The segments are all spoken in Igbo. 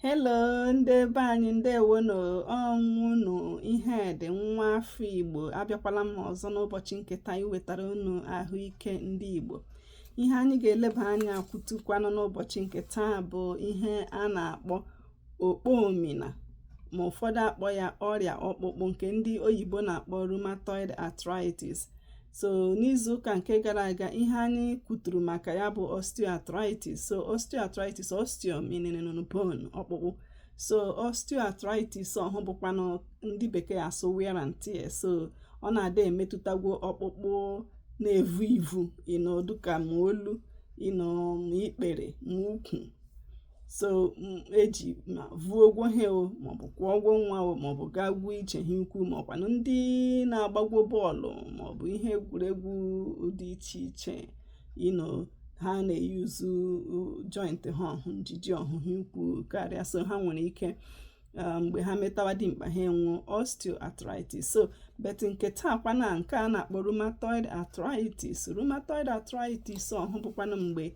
Hello ndị be anyị ndewo nụ ọ wụnụ Ihedi nwa afọ Igbo abịakwala m ọzọ n'ụbọchị nke taa iwetara unu ahụike ndị Igbo ihe anyị ga-eleba anya kwutukwanụ n'ụbọchị nke taa bụ ihe a na-akpọ okpomina ma ụfọdụ akpọ ya ọrịa ọkpụkpụ nke ndị oyibo na-akpọ rheumatoid arthritis so n'izu ụka nke gara aga ihe anyị kwuturu maka ya bụ osteoarthritis so osteoarthritis osteo meaning bone ọkpụkpụ so osteoarthritis ọhụ bụkwanụ ndị bekee asụ wear and tear so ọ na-adị emetụtagwo ọkpụkpụ na-evu ivu you know dịka ma olu you know ma ikpere ma ukwu so eji ma vuogwo ihe o maọbụ kwọọgwo nwa o maọbụ gaagwo ije hi ukwu maọkwanụ ndị na-agbagwo bọọlụ maọbụ ihe egwuregwu dị iche iche you know ha na-eyuzu joint ha ọhụ njiji ọhụ hi ukwu karịa so ha nwere ike Uh, mgbe ha metawa dimkpa ha enwuo osteoarthritis so but nke taa kwana nke a na-akpọ rheumatoid arthritis rheumatoid arthritis ọhụ bụkwanụ mgbe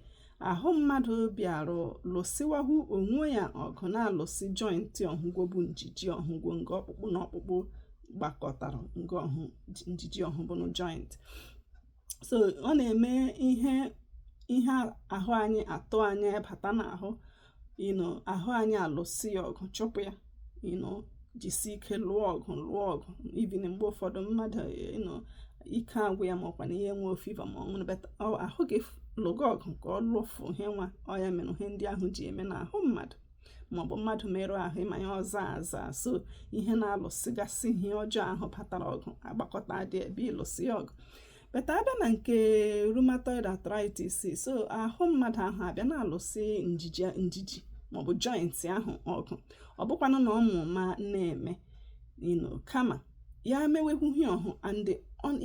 ahụ mmadụ bịarụ lụsịwahụ onwe ya ọgụ na-alụsị joint ọhụgwọ bụ njiji ọhụgwọ nga ọkpụkpụ na ọkpụkpụ gbakọtara nga ọhụ njiji ọhụ bụnụ joint so ọ na-eme ihe ihe ahụ anyị atụ anya bata n'ahụ you know ahụ anyị alụsị ya ọgụ chụpụ ya you know jisi ike lụọ ọgụ lụọ ọgụ even mgbe ụfọdụ mmadụ you know ike agwụ ya maọkwa na ihe nwee fever ma ọ wụnụ but ahụ gị lụga ọgụ ka ọ lụfụ ihe nwa ọ ya mere ihe ndị ahụ ji eme n'ahụ mmadụ maọbụ mmadụ merụ ahụ ị ma ya ọ zaa aza so ihe na-alụsịgasị ihe ọjọọ ahụ batara ọgụ agbakọta dị ebe ịlụsị ya ọgụ but abịa na nke rheumatoid arthritis so ahụ mmadụ ahụ abịa na-alụsị njiji njiji maọbụ joint ahụ ọgụ ọ bụkwanụ na ọ ma ụma na-eme you know kama ya mewehụ ihe ọhụ and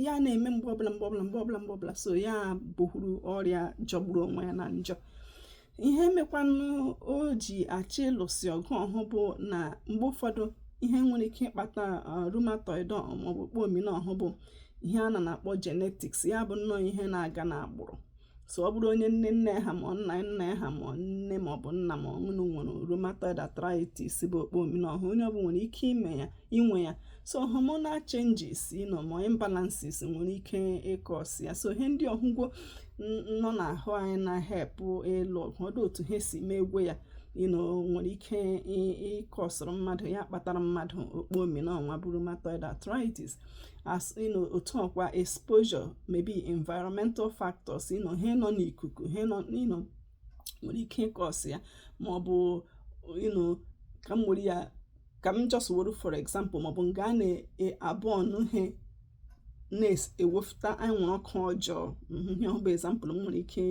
ya na-eme mgbe ọbụla mgbe ọbụla mgbe ọbụla mgbe ọbụla so ya bụhụrụ ọrịa jọgburu onwe ya na njọ ihe mekwanụ o ji achọ ịlụsị ọgụ ọhụ bụ na mgbe ụfọdụ ihe nwere ike ịkpata uh, rheumatoid maọbụ okpomina ọhụ bụ ihe a na na-akpọ genetics ya bụ nnọọ ihe na-aga n'agbụrụ so ọ bụrụ onye nne nne ha ma nna nna ha ma nne ma ọ bụ nna ma ọ wụnụ nwere rheumatoid arthritis bụ okpomina ọhụ onye ọ bụ nwere ike ime ya inwe ya so hormonal changes you know ma imbalances nwere ike ịcause ya so ihe ndị ọhụgwo nọ n'ahụ anyị na-ehelp ịlụ ọgụ ọ dụ otu ha si megwe ya you know nwere ike ịcauseụrụ mmadụ ya kpatara mmadụ okpomi na ọnwa bụ rheumatoid arthritis as you know otu ọkwa exposure maybe environmental factors you know ihe nọ n'ikuku ihe nọ you know nwere ike ịcause ya ma ọ bụ you know ka m were ya ka m just were for example maọbụ nga a na-aburn ihe na-ewefụta anwụrụ ọkụ ọjọọ mhm, ihe ọhụ bụ example m nwere ike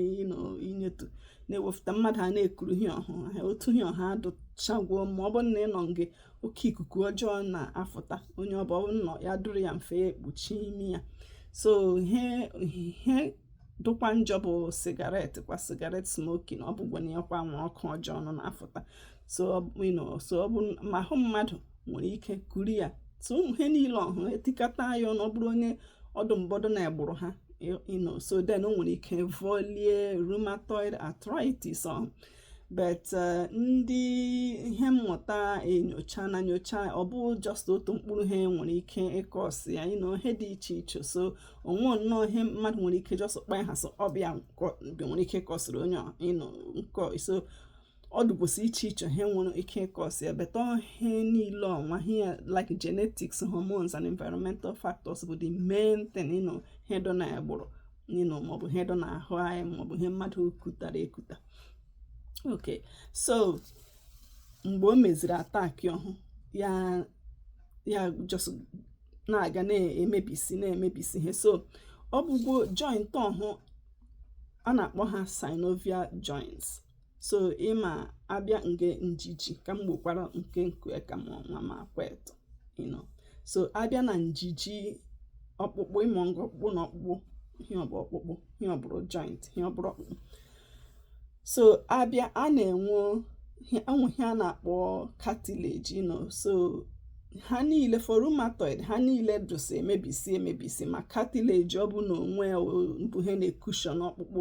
inyetu na-ewefụta mmadụ a na-ekuru ihe ọhụ ha otu ihe ọhụ adụchagwuo mma ọ bụrụ na ị nọ nga oke ikuku ọjọọ na-afụta onye ọ bụrụ na ọ ya-adụrụ ya mfe ya ekpuchie imi ya so ihe dụkwa njọ bụ cigarette kwa cigarette smoking ọ bụgwa na ya kwa anwụrụ ọkụ ọjọọ nọ na-afụta so ọ bụ ma ahụ mmadụ nwere ike kuru ya so ụmụ ihe niile ọhụ e tikọta ya ọnụ ọ bụrụ onye ọ dụ mbụ ọ dụ n'agbụrụ ha you know so then o nwere ike volie rheumatoid arthritis ọ but uh, ndị ihe mmụta enyochana nyocha ọ bụ just otu mkpụrụ ihe nwere ike ịcause ya you know ihe dị iche iche so o nwe nnọọ ihe mmadụ nwere ike just kpa aha sị ọ bụ ya nwere ike ịcauseịrị onye you know nkọ so ọ dụgwosi iche iche ihe nwere ike ịcause ya but ihe niile ọnwa ihe like genetics hormones and environmental factors bụ the main thing you know ihe dụ n'agbụrụ you know maọbụ ihe dụ n'ahụ anyị maọbụ ihe mmadụ kutara ekuta ok so mgbe o meziri attack ọhụ ya ya just na-aga na-emebisi na-emebisi ihe so ọ bụgwo joint ọhụ a na-akpọ ha synovial joints so ị ma a bịa nga njiji ka m gbokwara nkenke ka m nwa m akọwatụ you know so a bịa na njiji ọkpụkpụ you know nga ọkpụkpụ na ọkpụkpụ ihe ọ bụ ọkpụkpụ ihe ọ bụrụ joint ihe ọ bụrụ ọkpụkpụ so a bịa a na-enwe enwe ihe a na-akpọ cartilage you know so ha niile for rheumatoid ha niile dụsị emebisi emebisi ma cartilage ọhụ n'onwe bụ ihe na-ecushion ọkpụkpụ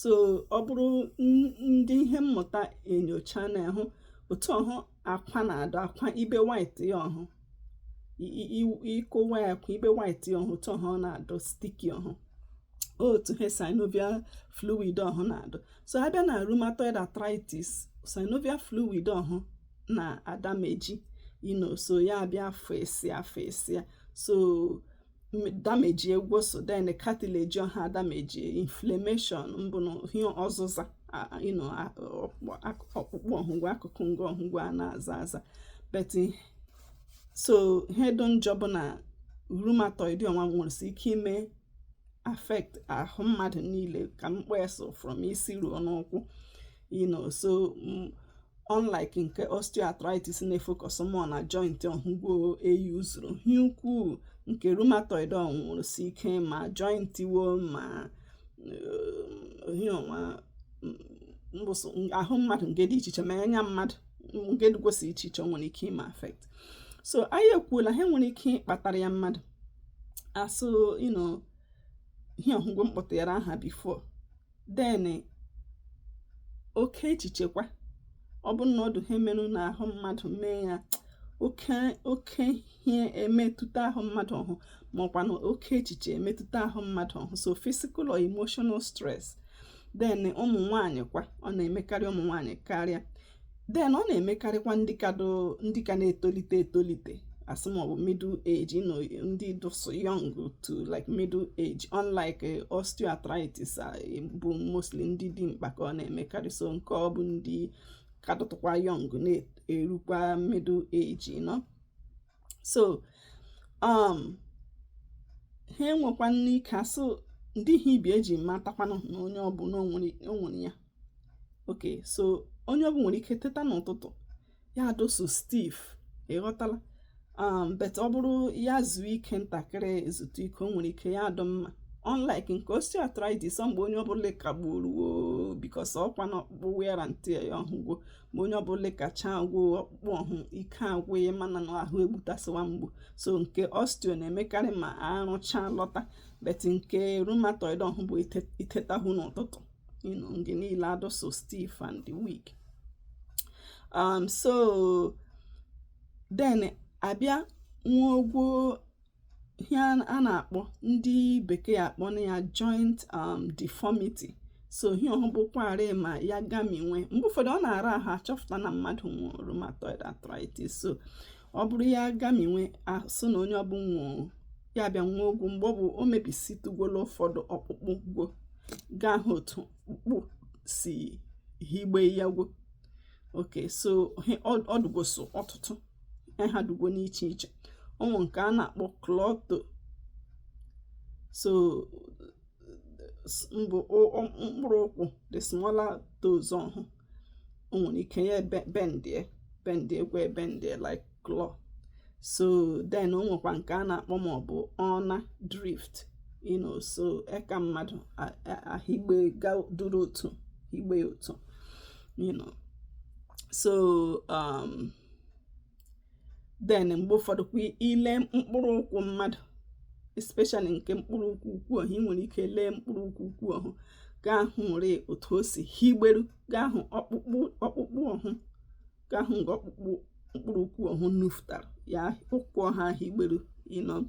so ọ bụrụ ndị ihe mmụta enyochana hụ otu ọhụ akwa na-adụ akwa ibe white ya ọhụ ị kụwa ya akwa ibe white ya ọhụ otu ọhụ ọ na-adụ sticky ọhụ otu ha synovial fluid ọhụ na-adụ so a bịa na rheumatoid arthritis synovial fluid ọhụ na-adamage you know so ya abịa efesa efesa so damage egwu so then cartilage ọha damage inflammation mbụ na ihe ọzụza ọkpụkpụ ọhụ gwo akụkụ nga ọhụ gwo a na-aza aza but so ihe dị njọ bụ na rheumatoid ọnwa nwere ike ime affect ahụ mmadụ niile ka m kpọ ya so from isi ruo n'ụkwụ you know so mm, unlike nke osteoarthritis na-efocus more na joint ọhụ gwo e use-uru ihe ukwuu nke rheumatoid ọ nwụrụ si ike ma joint wo ma mm, ahụ mmadụ nga dị iche iche ma anya mmadụ nga dịkwasị iche iche nwere ike ime affect so anyị ekwuola ihe nwere ike ịkpatara ya mmadụ as in ihe ọhụ gwo m kpọtara aha before then oke echiche kwa ọ bụrụ na ọ dị ihe merụ n'ahụ mmadụ mee ya oke oke ihe emetụta ahụ mmadụ ọhụ maọkwa na oke echiche emetụta ahụ mmadụ ọhụ so physical or emotional stress then ụmụ nwanyị kwa ọ na-emekarị ụmụ nwanyị karịa then ọ na-emekarịkwa ndị ka ndị ka na-etolite etolite asị maọbụ middle age you know, ndị dụsụ young to like middle age unlike eh, osteoarthritis ah, eh, bụ mostly ndị dimkpa ka ọ na-emekarị so nke ọ bụ ndị ka dụtụkwa young na-erukwa middle age you know? so um ihe e nwekwanụ ike asụ ndị ihe ibi eji matakwanụ na onye ọbụ na o nwere ya okay so onye ọbụ nwere ike teta n'ụtụtụ ya adụ so stiff ịghọtala um, but ọ bụrụ ya zuo ike ntakịrị zuta ike o nwere ike ya adụ mma unlike nke osteoarthritis ọ mgbe onye ọbụla kagburu because ọkwa na ọkpụkpụ wear and tear ya ọhụ gwo ma onye ọbụla kacha gwoo ọkpụkpụ ọhụ ike agwụ ya mana na ahụ egbutasịwa mgbu so nke osteo na-emekarị ma arụcha lọta but nke rheumatoid ọhụ bụ itetahụ n'ụtụtụ you know nga niile adụ so stiff and weak um so then abịa nwa ogwo ihe a na-akpọ ndị bekee akpọ na ya joint um deformity so ihe ọhụ bụkwarị ma ya gaminwe mgbe ụfọdụ ọ na-ara ahụ achọpụta na mmadụ nwụrụ rheumatoid arthritis so ọ bụrụ ya gaminwe as in na onye ọbụ nwụrụ ya bịa ṅụwa ọgwụ mgbe ọ bụ o mebisitụgwola ụfọdụ ọkpụkpụ gwo ga-ahụ otu ọkpụkpụ si higbe ya gwo okay so ọ dụgoso ọtụtụ ha dụgwo n'iche iche ọ nwụ nke a na-akpọ claw toe so mbụ mkpụrụ ụkwụ the smaller toes ọhụ o nwere ike ya bendie bendie gwa ebendie like claw so then o nwekwa nke a na-akpọ ma ọ bụ ulnar drift you know so eka mmadụ ahigbe duru otu higbe otu you know so um then mgbe ụfọdụ kwa i lee mkpụrụ ụkwụ mmadụ especially nke mkpụrụ ụkwụ ukwu ọhụ ị nwere ike lee mkpụrụ ụkwụ ukwu ọhụ ga-ahụ e nwere otu o si higberu ga-ahụ ọkpụkpụ ọkpụkpụ ọhụ ga-ahụ nge ọkpụkpụ mkpụrụ ụkwụ ọhụ nufutara ya ụkwụ ọhụ ahigberu you know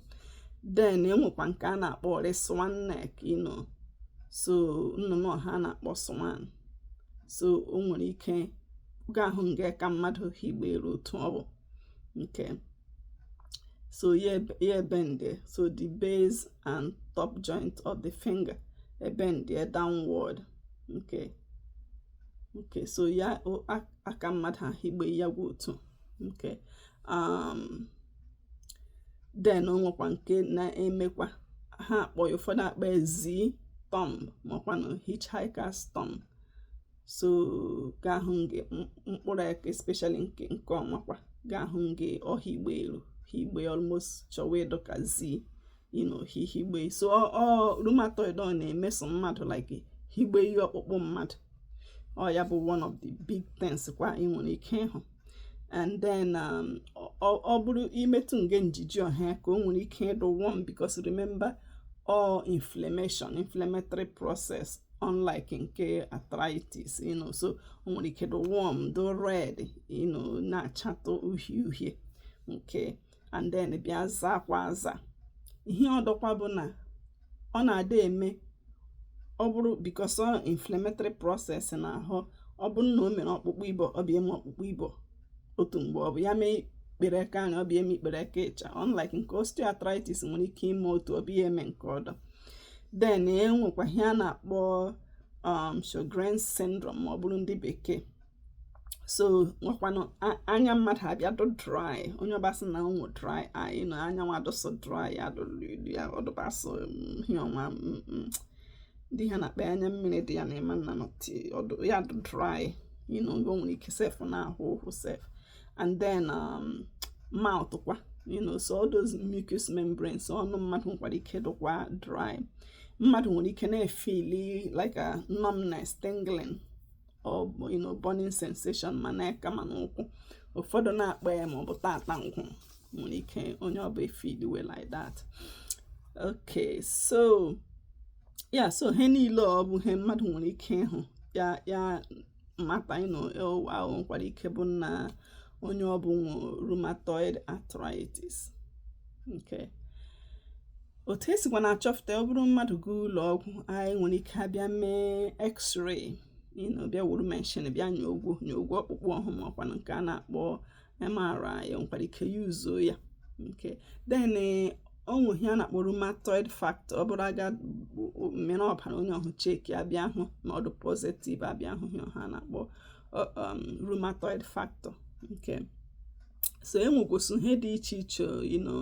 then e nwekwa nke a na-akpọ swan neck you know so nnụnụ ọhụ a na-akpọ swan so o nwere ike ị ga-ahụ nga aka mmadụ higberu otu ọ bụ okay so ya ebende so the base and top joint of the finger ebende downward nke nke so ya aka mmadụ ahigbe ya gwa otu nke um then o nwekwa nke na-emekwa ha akpọ ya ụfọdụ akpọ ya Z thumb makwanụ hitchhiker's thumb so ga-ahụ nge mkpụrụ aka especially nke nke ọnwa kwa ga-ahụ nge ọ higberu higbe almost chọwa ịdụ ka Z you know hihigbe so ọ rheumatoid ọ na-emeso mmadụ like higbe ihe ọkpụkpụ mmadụ ọ ya bụ one of the big things kwa ị nwere ike ịhụ and then um, ọ bụrụ i metụ nge njiji ọhụ aka o nwere ike ịdụ warm because remember all inflammation inflammatory process unlike nke arthritis you know so o nwere ike dụ warm dụ red you know na-achatụ uhie uhie okay and then bịa zaa kwa aza ihe ọdọkwa bụ na ọ na-adị eme ọ bụrụ because ọ inflammatory process n'ahụ ọ bụrụ na o mere ọkpụkpụ ibo ọ bịa eme ọkpụkpụ ibo otu mgbe ọ bụ ya mee ikpere eka anya ọ bịa eme ikpere eka ịcha unlike nke osteoarthritis nwere ike ime otu ọ bịa eme nke ọdọ then e nwekwa ihe a na-akpọ um Sjogren's syndrome ma ọ bụrụ ndị bekee so nwekwanụ anya mmadụ abịa dụ dry onye ọ bụ asị na o nwe dry eye na anya ọhụ adụsụ dry ya ọdụbasị ihe ọnwa ndị ha na-akpọ anya mmiri dị ya na ịma nna ọdụ ya dụ dry you know o nwere ike sef na-ahụ ụhụ sef and then um, mouth kwa you know so all those mucous membranes ọnụ mmadụ nwekwara ike dụkwa dry mmadụ nwere ike na-efili like a numbness tingling burning sensation ma n'aka ma n'ụkwụ ụfọdụ na-akpọ ya ma ọ bụ tata nkwụ nwere ike onye ọ bụ efidiwe like that okay so ya so ihe niile ọ bụ ihe mmadụ nwere ike ịhụ ya ya mata you know ụwa ahụ nwekwara ike bụ na onye ọ bụ nwe rheumatoid arthritis okay otu esikwa na-achọpụta ọ bụrụ mmadụ gaa ụlọ ọgwụ anyị nwere ike abịa mee x-ray you know bịa wuru meshin bịa nyogwo nyogwo ọkpụkpụ ọhụ ma ọkwanụ nke a na-akpọ MRI nwekwara ike yuzo ya okay then eh, o nwe ihe a na-akpọ rheumatoid factor ọ bụrụ a gaa mịrị ọbara onye ọhụ cheki abịa hụ na ọ dụ positive abịa hụ ihe ọhụ a na-akpọ um, rheumatoid factor okay so enwekwụsị ihe dị iche iche you know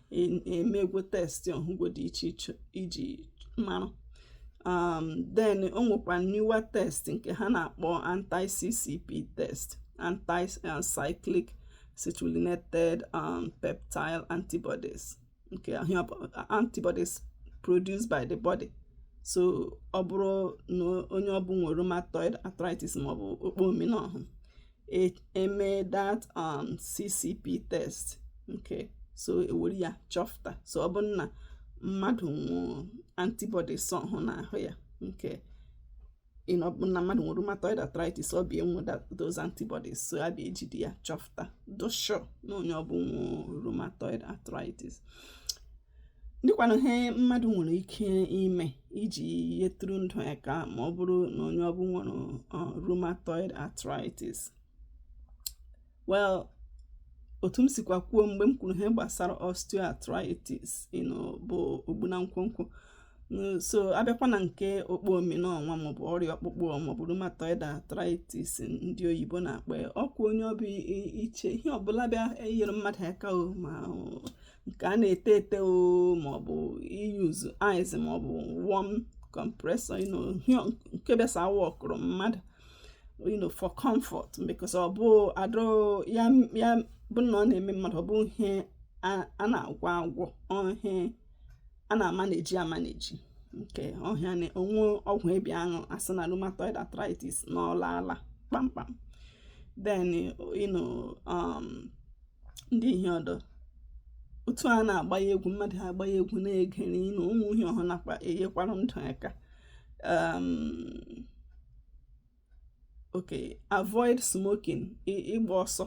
emegwo test ọhụgwo dị iche iche iji mara um, then o nwekwa newer test nke ha na-akpọ anti-ccp test anti-cyclic uh, citrullinated um, peptide antibodies okay antibodies produced by the body so ọ bụrụ na onye ọbụ nwere rheumatoid arthritis maọbụ okpo omena ọhụ eme that um, ccp test okay so ewere ya chọpụta so ọ bụ na mmadụ nwe antibodies ọhụ n'ahụ ya okay ọ bụ na mmadụ nwere rheumatoid arthritis ọ bịa enwe those antibodies so a bịa ejide ya chọpụta dụ sure na onye ọ bụ nwe rheumatoid arthritis dịkwanụ ihe mmadụ nwere ike ime iji yetụrụ ndụ ya aka ma ọ bụrụ na onye ọbụ nwere uh, rheumatoid arthritis well otu m sikwa kwuo mgbe m kwuru ihe gbasara osteoarthritis you know bụ ogbu na nkwonkwo so abịakwa na nke okpo omena ọnwa maọbụ ọrịa ọkpụkpụ maọbụ rheumatoid arthritis ndị oyibo na-akpọ ya ọkwa onye ọbụ iche ihe ọbụla bịa enyere mmadụ aka o ma nke a na-ete ete o maọbụ iyuzu ice maọbụ warm compressor you know nke besa awọkụrụ mmadụ you know for comfort because ọ bụ adụ ya ya bụ na ọ na-eme mmadụ ọ bụ ihe a na-agwọ agwọ ọ ihe a na-amanage amanage okay ọhịa na o nwe ọgwụ a bịa aṅụ asị na rheumatoid arthritis na ọ laala kpamkpam then you know um ndị ihe ọ dụ otu a na-agbanye egwu mmadụ ha agbanye egwu na-egere you know ụdị ihe ọhụ nakwa enyekwara ndụ aka um, okay avoid smoking ịgba ọsọ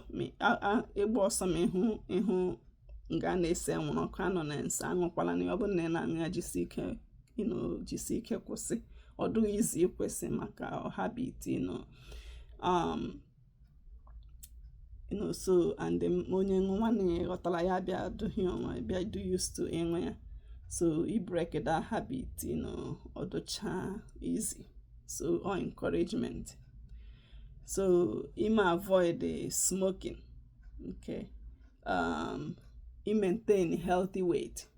ịgba ọsọ ma ịhụ ịhụ nga a na-ese anwụrụ ọkụ anọna nso aṅụkwala na ọ bụrụ na ị na-aṅụ ya jisi ike you know jisi ike kwụsị ọ dụghị easy ịkwụsị maka ọ habit you know um, so and onye nwanne ya ghọtara ya bịa duhie onwe bịa dụ used to enwe ya so ibreak that habit you know ọ dụcha easy so ọ encouragement so ime avoid the smoking okay um imaintain healthy weight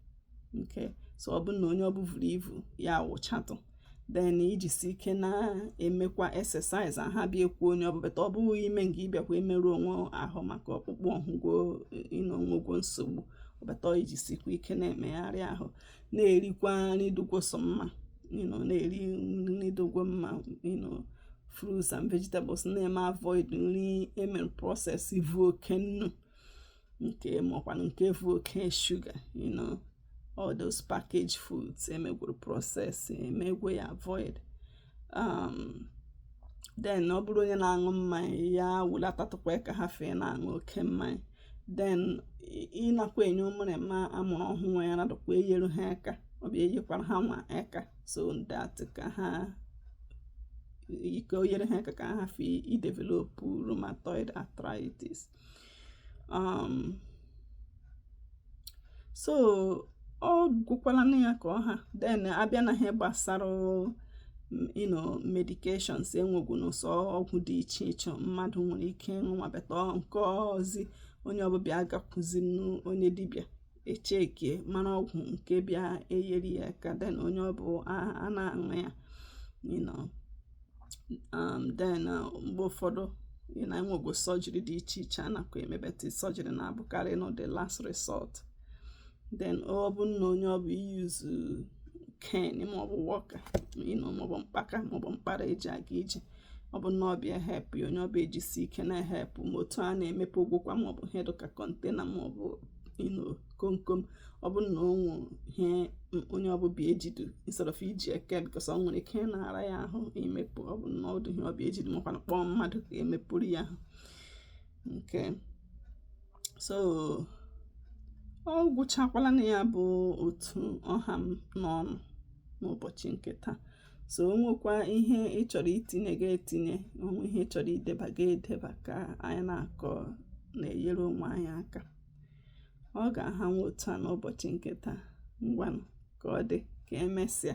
okay so ọ bụrụ na onye ọ bụ vuru ivu ya wụchatụ then ijisi ike na-emekwa exercise ahụ bịa ekwe onye ọ bụ but ọ bụghị ime nga ị bịakwa emerụ onwe ahụ maka ọkpụkpụ ọhụ you know o nwegwo nsogbu but ijisikwa ike na-emegharị ahụ na-erikwa nri dụgwo sọ mma na-eri nri dụgwo mma fruits and vegetables na-eme avoid nri e mere process vu oke nnu nke makwanụ nke vu oke sugar you know all those packaged foods e megwuru process emegwe ya avoid um, then ọ bụrụ onye na-aṅụ mmanya ya wulatatụkwa aka hafụ ịna-aṅụ oke mmanya then ịnakwa enye ụmụrụma a mụrụ ọhụrụ ara nadụkwa enyere ha aka ọ bụ enyekwara ha nwa aka so that ka ha ka o nyere ha aka ka ha hafụ idevelopụ rheumatoid arthritis um so ọ gwụkwala na ya ka ọ ha then a bịa na ihe gbasara you know medications e nwegwunụ sọ ọgwụ dị iche iche mmadụ nwere ike ịṅụ ma but nke ahụzi onye ọ bụ bịa agakwuzi onye dibịa e checkie mara ọgwụ nke bịa eyeri ya aka then onye ọ bụ a na-aṅụ ya um, then uh, mgbe ụfọdụ you know e nwego surgery dị iche iche a nakwa eme but surgery na-abụkarị you know the last resort then ọ bụ na onye ọ bụ iuse cane maọbụ walker you know maọbụ mkpaka maọbụ mkpara eji aga ije ọ bụ na ọ bịa help ya onye ọ bụ ejisi ike na-ehelp ma otu a na-emepegwokwa maọbụ ihe dụ ka container maọbụ you know komkom ọ bụ na o nweru ihe onye ọ bụ bịa ejidu instead of iji aka because o nwere ike na-ara ya ahụ imepụ ọ bụ na ọ dụ ihe ọ bịa ejidu makwanụ kpọọ mmadụ ka e mepụrụ ya ahụ okay so ọ gwụchakwala na ya bụ otu ọ ha m n'ọnụ n'ụbọchị nke taa so o nwekwa ihe ị chọrọ itinye gị etinye o nwee ihe ị chọrọ ideba gị edeba ka anyị na-akọ na-enyere onwe anyị aka ọ ga-aha nwa otu a n'ụbọchị nke taa ngwanụ ka ọ dị ka emesịa